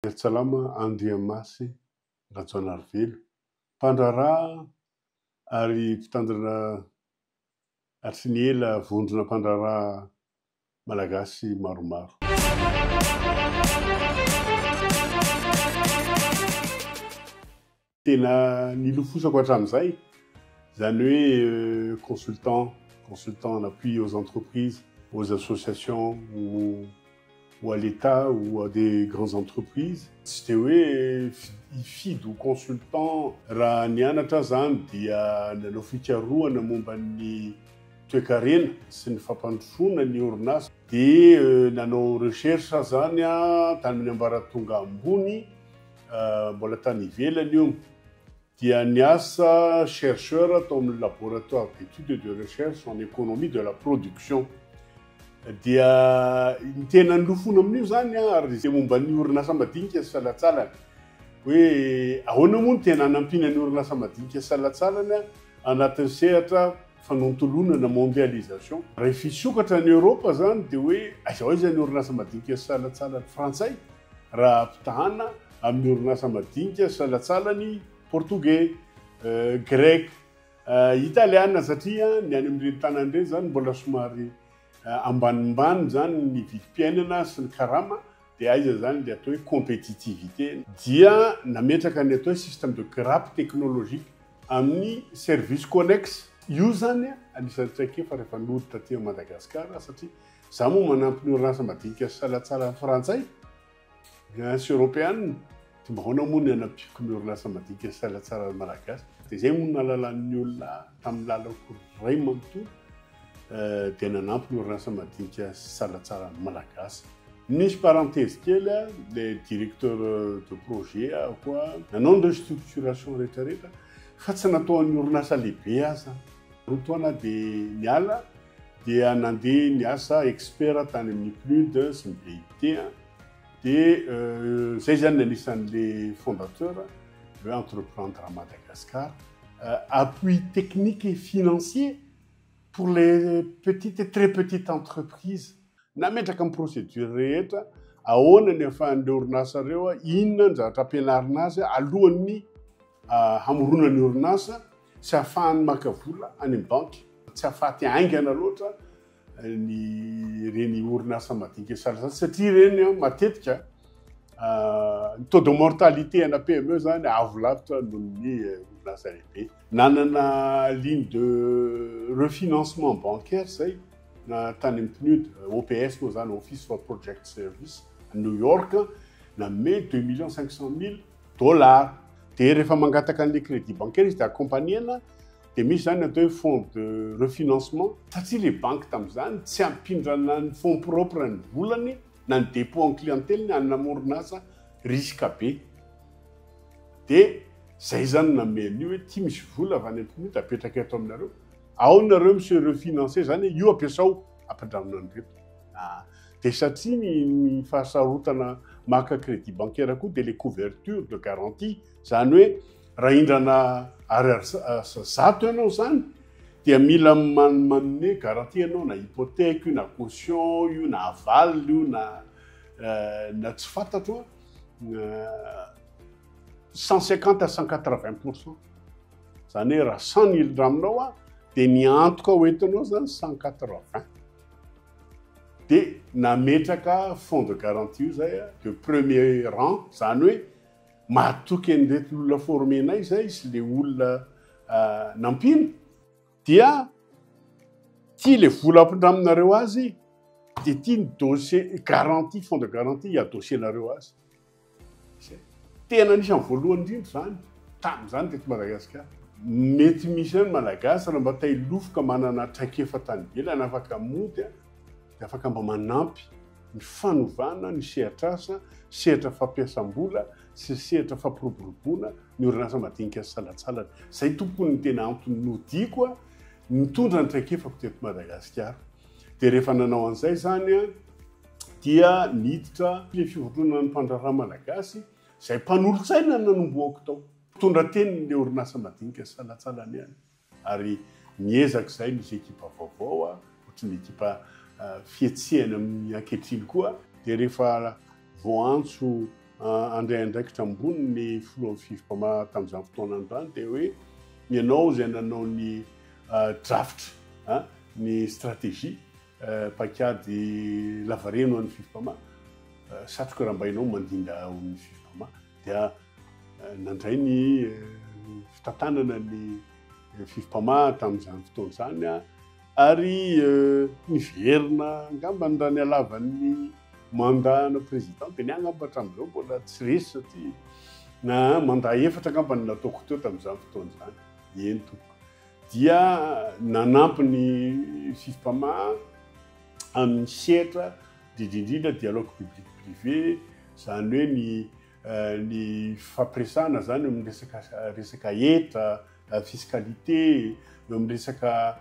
Miarsalama Andriamasy Rajaonarivelo, mpandraharaha ary mpitandrina hatry ny ela vondrona mpandraharaha malagasy maromaro. Tena nilofosako hatramin'izay, izany hoe consultant, consultant en appui aux entreprises, aux associations ou à l'Etat ou à des grandes entreprises. Tsy dia hoe hifidy ho consultant. Raha nianatra aho izany dia nanao fikarohana momba ny toekarena sy ny fampandrosoana ny orinasa. Dia nanao recherche aho izany an, tany amin'ny ambaratonga ambony. mbola tany ivelany io, dia niasa chercheur tao amin'ny laboratoire d'études et de recherche en économie de la production. Dia ny tena nilofona amin'io zany ah, ary izay momba ny orinasa madinika sy salatsalany. Hoe ahoana moa ny tena hanampiana ny orinasa madinika sy salatsalany anatin'ny sehatra fanontoloana na mondialisation. Raha hisokatra any Eoropa zany dia hoe aiza ho aiza ny orinasa madinika sy salatsalany frantsay. raha ampitahana amin'ny orinasa madinika salatsalany portogey, greka, italiana satria ny any amin'ireny tanàna ireny izany mbola somary ambanimbany izany ny vidim-piainana sy ny karama dia aiza izany ilay atao hoe compétitivité. Dia nametraka ny atao hoe système de grappe technologique amin'ny services connexes. Io izany anisan'ny traikefa rehefa nody taty Madagasikara satria Izaho moa manampy ny orinasa madinika sy salatsalany frantsay, Guyens sy Europeana, dia mba ahoana moa ny hanampiako ny orinasa madinika sy salatsalany malagasy? Dia izay moa no nahalalan'ny olona ahy tamin'ny lalako iray manontolo dia nanampy ny orinasa madinika sy salatsalany malagasy. Nisy parenthèse kely a, ilay directeur de projet aho koa nanao ny restructuration rehetrarehetra fa tsy natao an'ny orinasa lehibe aho izany. Roa taona aho dia niala dia nandeha niasa expert tany amin'ny PNUD sy ny BIT dia izay izany ny anisan'ilay fondateur hoe entreprendre Madagascar appui technique et financier pour les petites et très petites entreprises Nametraka ny procédure rehetra, ahoana ny afahan'ireo orinasa ireo, inona ny zavatra ampianarina azy alohan'ny hamoronana ny orinasa sy afahany maka vola any amin'ny banky. Tsy afaty haingana loatra ny ireny orinasa madinika sahaza satria ireny matetika ny taux de mortalité ana PME zany avo lavitra noho ny orinasa lehibe. Nanana ligne de refinancement bancaire zay. na tany amin'ny PNUD, OPS moa izany, Office for Project Service, à New York, nanome deux millions cinq cent mille dollars. Dia rehefa mangataka an'ilay crédit bancaire izy dia accompagner-na, dia misy izany atao hoe fonds de refinancement, satria ilay banky tamin'izany tsy hampindrana ny fonds propres ny volany na ny dépôt en clientèle-ny an'ny orinasa risque be. Dia izay izany no nanome an'io hoe ity misy vola avy any amin'ny PNUD apetraka eto aminareo. Ao nareo miseho financé zany io ampiasao ampindramina an'ireo. Ah. Dia satria ny, ny fahasarotana maka crédit bancaire koa dia le couverture de garantie, zany hoe raha hindrana ariary zato ianao zany dia mila manome garantie ianao na hypothèque io na caution io na aval io na euh, na tsy fantatro euh, cent cinquante à cent quatre-vingts pour cent. Zany hoe raha 100 milligrammes aminao a, dia ny antoka ho entinao zany 180. Dia nametraka fonds de garantie io zay de premier rang, zany hoe mahatoky an'ireto olona formenay zay sy le olona ah, nampiana. Dia ty le vola ampindraminareo azy, dia ty ny dossier garantie, fonds de garantie hiadosianareo azy. izay tena anisan'ny voalohany indrindra izany tamin'izany teto Madagasikara. Mety misy ihany ny Malagasy raha mba te-hilofa ka manana traikefa tany ivelany afaka mody dia afaka mba manampy ny fanovana ny sehatr'asa, sehatra fampiasam-bola sy sehatra fampiroboroboana ny orinasa madinika sy salatsalany. Izay tompoko ny tena antony nodiako nitondra ny traikefako teto Madagasikara. Dia rehefa nanao an'izay izany, dia niditra ny Fivondronan'ny Mpandraharaha Malagasy izay mpanolotsaina ny nanombohako tao. Mpitondra teny ny orinasa madinika salatsalany ihany ary niezaka izahay nisy ekipa vaovao ohatry ny ekipa fihetsehany amin'ny ankehitriny koa. Dia rehefa voaantso handray andraikitra ambony ny filohan'ny Fifpa tamin'izany fotoana izany dia hoe ianao izay nanao ny drafitra, ny stratégie. Paikady lavareny ho an'ny Fifpama, satroka rambainao mandinda ao amin'ny Fifpama dia nandray ny fitantanana ny Fifpama tamin'izany fotoana izany ary niverina angambany raha ny halavan'ny mandat ana président dia ny ahy angamba hatramin'izao mbola tsy resy satria na mandat efatra angambany nataoko teo tamin'izany fotoana izany, eny tompoko. dia nanampy ny Fifpama amin'ny sehatra indrindra indrindra dialogue public privé, izany hoe ny ny fifampiresahana izany eo amin'ny resaka resaka hetra, fiscalité, eo amin'ny resaka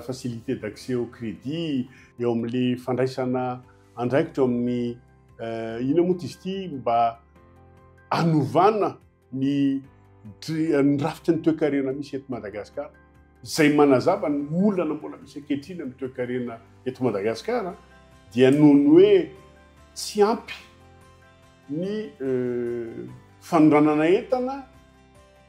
facilité d'accès au crédit, eo amin'ilay fandraisana andraikitra eo amin'ny inona moa izy ity mba hanovana. ny ny rafitry ny toekarena misy eto Madagasikara izay manazava ny olana mbola misy ankehitriny amin'ny toekarena eto Madagasikara dia noho ny hoe tsy ampy ny euh, fanondranana entana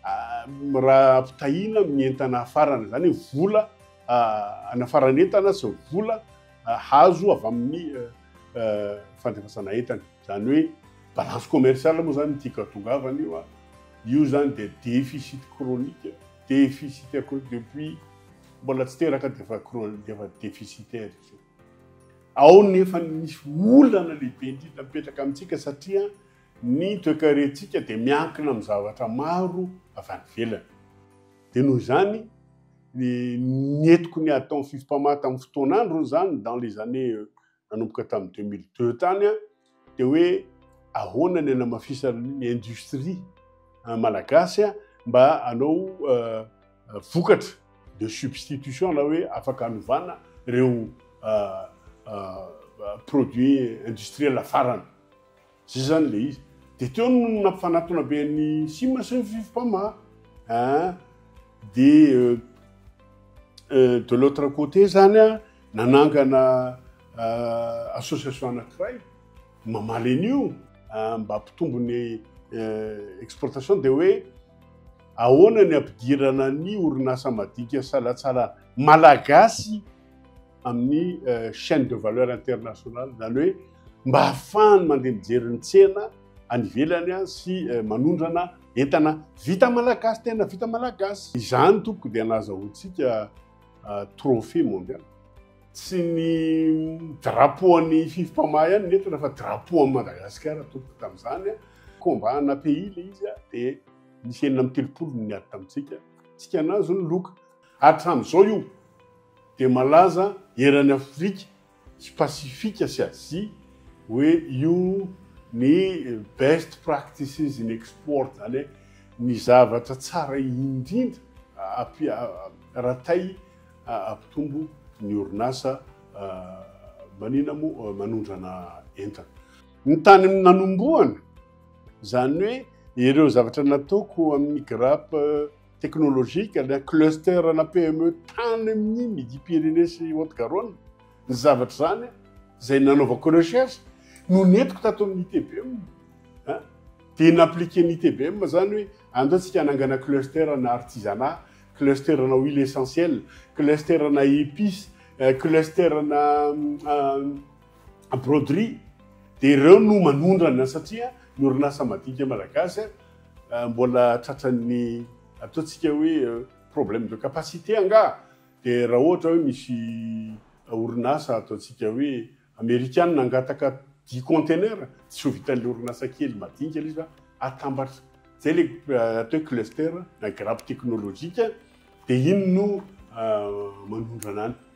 ah, raha ampitahiana amin'ny entana hafarana izany hoe vola hanafarana ah, entana sy vola ah, hazo avy amin'ny euh, euh, fandefasana entana. Izany hoe balance commerciale moa izany ity katongavana io an! Io izany dia déficit chronique, déficit à cause depuis mbola tsy teraka dia efa chronique, dia efa déficitaire izy io. Ao no efa misy olana lehibe indrindra mipetraka amintsika satria ny toekarentsika dia miankina amin'ny zavatra maro avy any ivelany. Dia noho izany, ny entiko ny atao ny fifipamata amin'ny fotoan'androny izany dans les années nanomboka tamin'ny deux mille deux tany an, dia hoe ahoana ny hanamafisana ny industrie ah, malagasy an, mba hanao eh, eh, vokatra de substitution na hoe afaka hanovana ireo eh, eh, produits industriels farany. Zay zany ilay izy. Dia teo no nampifanatona be an'i Sima sy ny Fifipama. Hein? Dia euh, euh, de l'autre côté zany a, nanangana euh, association anakiray mamaly an'io euh, mba hampitombo ny euh, exportation dia hoe ahoana ny ampidirana ny orinasa madinika salatsalana malagasy amin'ny euh, chaîne de valeur internationale izany hoe mba hahafahany mandeha mijery ny tsena any ivelany a sy euh, manondrana entana vita malagasy tena vita malagasy izany tompoko dia nazahoantsika euh, trophée mondial tsy ny drapeau an'ny fifipamaha ihany ny entana fa drapeau an'i madagasikara tompoko tamin'izany a combat na pays le izy a dia nisy enina amin'ny telopolo ny ady tamintsika tsika nazo ny loka Hatramin'izao io dia malaza eran'i Afrika sy Pasifika sy Azia hoe io ny best practices in export, izany hoe ny zavatra tsara indrindra raha tay hampitombo ny orinasa manina moa manondrana entana. Ny tany nanombohana, izany hoe ireo zavatra nataoko amin'ny grappe technologique, le cluster na PME tany amin'ny Midi Pyrénées sy Haute Garonne, ny zavatra izany izay nanaovako recherche no nentiko tato amin'ny ITBM. Hein? Dia n'appliquer ny ITBM izany hoe andao tsika hanangana cluster na artisanat, cluster na huile essentielle, cluster na épices, euh, cluster na euh, broderie. Dia ireo no manondrana satria ny orinasa madinika malagasy ah, mbola tratran'ny ataontsika hoe problème de capacité angaha dia raha ohatra hoe misy orinasa ataontsika hoe amerikana angataka dix conteneurs tsy ho vitan'ilay orinasa kely madinika ilay izy fa atambatra zay le euh, atao hoe cluster na grappe technologique dia iny no euh, manondrana any